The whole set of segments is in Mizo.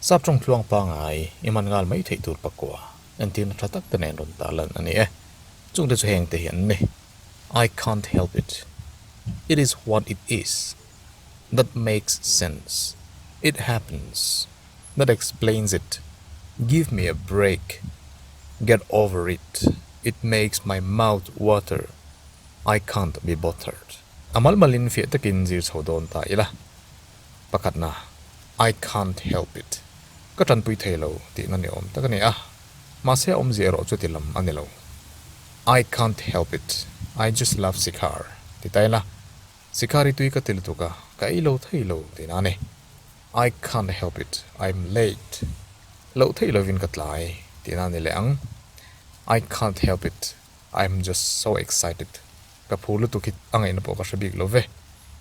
Sap tawng tluang pangai i man ngal mai theih tur pakua entirna tha tak te nen rawn tah lan a ni e. Chungte chu heng te hi an ni, I can't help it, it is what it is, that makes sense, it happens. That explains it. Give me a break. Get over it. It makes my mouth water. I can't be bothered. A malmal in fiah takin zir chho dawn ta ila. Pakhatna, I can't help it. Ka tanpui thei lo tihna ni awm tak a ni a, mahse a awmzia erawh chuti lam a ni lo. I can't help it. I just love Sikhar, ti ta ila. Sikhar hi tui ka ti lutuk a, ka ei lo thei lo, tiin a ni. I can't help it, I'm late. Loh theih lovin ka tlai tih na ni leh ang. I can't help it, I'm just so excited. Ka phu lutuk hi a ngaihna pawh ka hre bik love.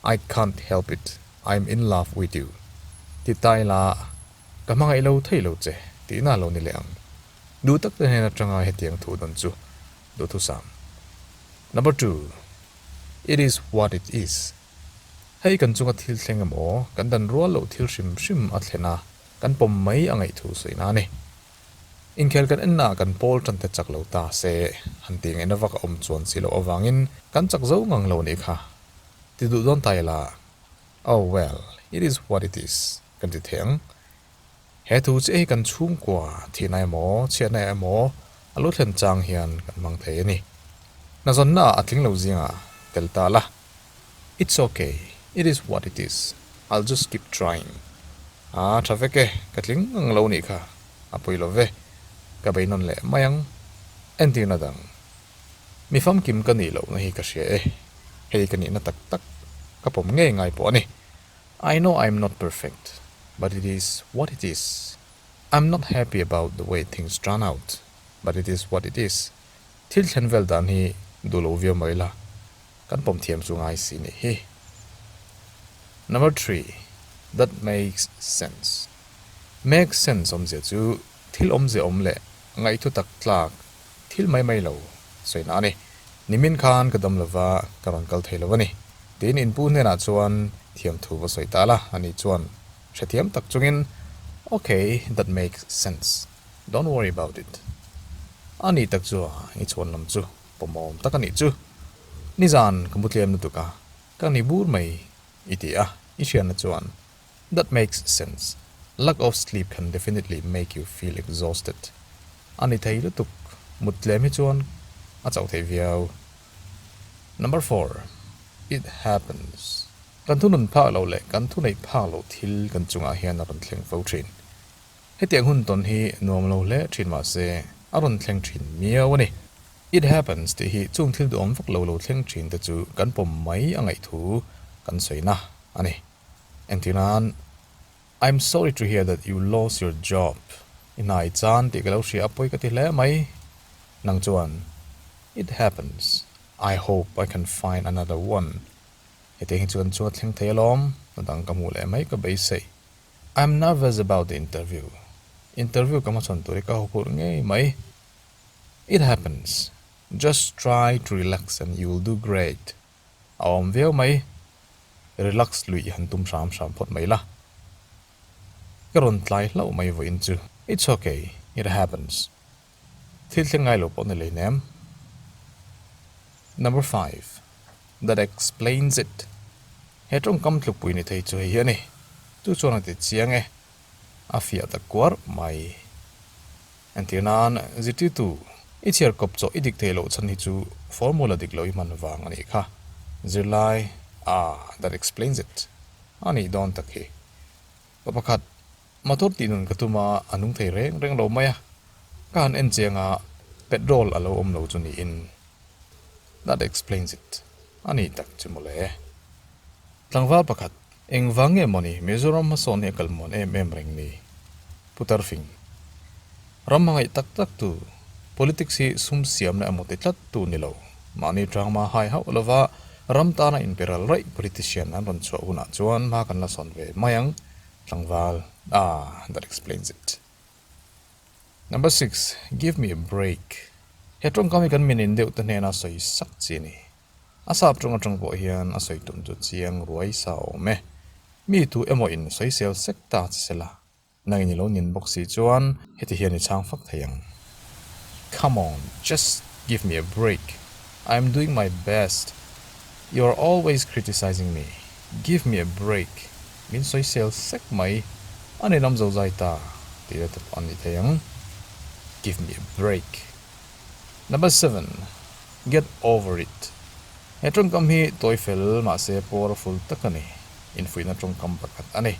I can't help it, I'm in love with you. Ti ta ila ka hmangaih lo theih lo che tih na lo ni leh ang. Duhtak te nen atanga hetiang thu dawn chu duhthusam. Number two, It is what it is, Hei kan chunga thil thleng emaw kan dan rual loh thil hrim hrim a thlen a, kan pawm mai a ngaihthu sawi nan e. Inkhel kan enna ah kan pawl tante chak lo ta se, han tih ngaihna vak a awm chuan si loh avangin kan chak zo ngang lo nih kha ti duh dawn ta ila, oh well, it is what it is kan ti thei ang. He thu che hi kan chhungkua thihna emaw, chhiatna emaw a lo thlen chang hian kan hmang thei a ni. Hnazawnnaah a tling lo zinga tel ta la. It's ok, it is what it is, I'll just keep trying. A tha vek e, ka tling ngang lo nih kha a pawi lo ve. Ka bei nawn leh mai ang. Entirna dang, mi famkim ka nih lohna hi ka hria e. Hei ka nihna tak tak ka pawm ngei ngai pawh a ni. I know I'm not perfect, but it is what it is. I'm not happy about the way things turn out, but it is what it is. Thil thlen vel dan hi duh lo viau mai la, kan pawm thiam chu ngai si nih hi. Number three, That makes sense. Make sense awmzia chu thil awmzia awm leh ngaihthu tak tlak Thil mai mai lo sawi na a ni. Nimin khan ka dam lo va, ka rawn kal thei lo a ni. Tiin in pu hnenah chuan thiam thu va sawi ta la, a nih chuan hrethiam tak chungin, Ok, that makes sense. Don't worry about it. A nih tak chu a, i chhuan lam chu pawmawm tak a nih chu. Nizan ka mu tlem lutuk a, ka ni bur mai, i ti a, i hriatna chuan That makes sense. Lack of sleep can definitely make you feel exhausted. A ni thei lutuk. Mut tlem hi chuan a chauh thei viau. Number four, It happens. Kan thu nun phak lo leh kan thu neih phak lo thil kan chungah hian a rawn thleng fo thin. Hetiang hun tawn hi nuam lo hle thin mahse, a rawn thleng thin miau a ni. It happens tih hi chung thil duhawm vak lo lo thleng thin te chu kan pawm mai a ngaih thu kan sawi na a ni. Engtin nan, I'm sorry to hear that you lost your job. I hna i chan tih ka lo hria a pawi ka ti hle mai. Nang chuan, It happens. I hope I can find another one. Hetiang hi chuan chunga thleng thei alawm, hna dang ka hmuh leh mai ka beisei. I'm nervous about the interview. Interview ka hmachhawn tur hi ka hawkhur ngei mai. It happens. Just try to relax and you'll do great. a awm viau mai relax luih han tum hram hram phawt mai la ka rawn tlai hlauh mai vawh in chu it's ok it happens thil thleng ngai lo pawh ni leh nem number five that explains it he tawngkam tlupui ni thei chu hei hi a ni chu chuan a ti chiang e a fiah ta kuar mai. Entir nan, zirtirtu, i chhiar kawp chaw i dik thei loh chhan hi chu formula dik loh i hman vang a nih kha. Zirlai, Ah, that explains it. A nih dawn tak hi. Pa pakhat, motor tih nun ka tum a, a nung thei reng reng lo mai a, ka han en chiang a, petrol a lo awm lo chu niin. That explains it. A nih tak chu mawle. Tlangval pakhat, Engvang nge maw ni Mizoram hmasawn hi a kalmuan em em reng ni? Putar fing. Ram hmangaih tak tak tu, politics hi sum siam leh a mut i tlat tu ni lo. Mahni drama hai hauh lova ram tana inpe ral raih politician an rawn chhuah hunah chuan hma kan la sawn ve mai ang. Tlangval, Ah, that explains it. Number six, Give me a break. He tawngkam hi kan min indeuhte hnena sawi sak chi a ni. A sap ṭawng aṭang pawh hian a sawi tum chu chiang ruai sa awm e. Mi tu emaw in sawisel sek ta chi se la, nangin i lo nin bawk si chuan heti hian i chhang fak thei ang, Come on, just give me a break, I am doing my best, you are always criticising me, give me a break, min sawisel sek mai, a ni lam zozai ta, tih la te pawh a ni thei ang, Give me a break. Number seven, Get over it. He tawngkam hi tawi fel mahse powerful tak a ni. Infuihna tawngkam pakhat a ni.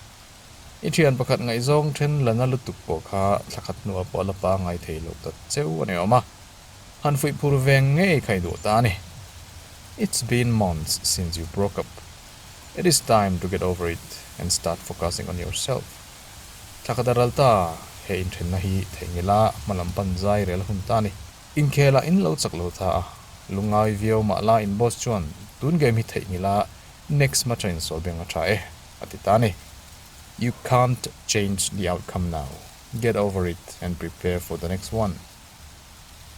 I thian pakhat ngaihzawng then lana lutuk pawh kha thla khat hnuah pawh a la pa ngai thei loh tak cheu a ni awm a, han fuih phur veng ngei kha i duh ta a ni. It's been months since you broke up. It is time to get over it and start focusing on yourself. Thlakadaralta he inthenna hi theihnghilha hmalam panzai rel hun ta a ni. Inkhelah in lo chak lo ta a, lungai viau mah la in boss chuan tun game hi theihnghilha next match a insawi beng a tha e a ti ta a ni. You can't change the outcome now, get over it and prepare for the next one.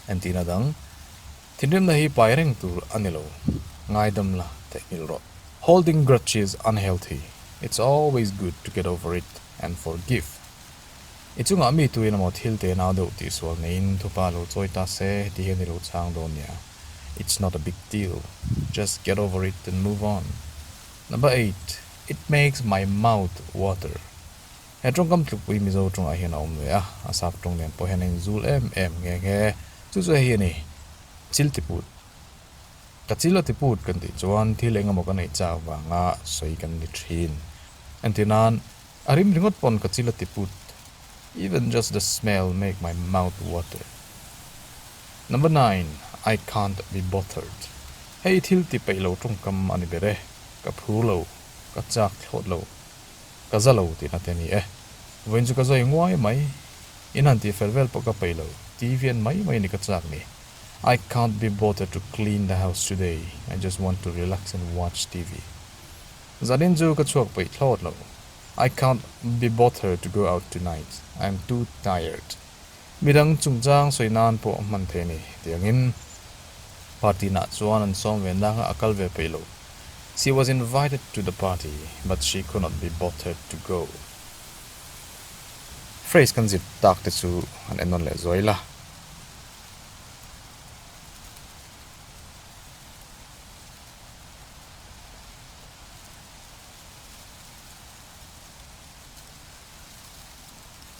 Entihna dang. Thinrimna hi pai reng tur a ni lo, ngaidam la teh nghil rawh. Holding grudges unhealthy, it's always good to get over it and forgive. I chungah mi tuin emaw thil te nau deuh tih sual neiin thupa lo chawi ta se ti hi a ni lo chang dawn nia, it's not a big deal, just get over it and move on. Number eight, It makes my mouth water. He tawngkam tlukpui Mizo tawngah hian a awm ve a, a sap tawng lian pawh hian a inzul em em nghe nghe. Chu chu hei a ni, Chil ti put. Ka chil a ti put kan tih chuan thil eng emaw ka neih chak vanga sawi kan ni thin. Engtin nan, a rim ringawt pawn ka chil a ti put. Even just the smell make my mouth water. Number nine, I can't be bothered. Hei thil ti peih lo tawngkam a ni ber e. Ka phur lo, ka chak thlawt lo. ka za lo tih na te ni e. Vawiin chu ka zai nguai mai, in han tih fer vel pawh ka peih lo, ti vian mai mai ni ka chak ni. I can't be bothered to clean the house today, I just want to relax and watch TV. Zanin chu ka chhuak peih thlawt lo. I can't be bothered to go out tonight, I'm too tired. Midang chungchang sawi nan pawh hman thei ni tiangin party nah chuan an sawm ve nanga a kal ve peih lo. She was invited to the party but she could not be bothered to go. Phrase kan zir tak te chu an en nawn leh zuai la.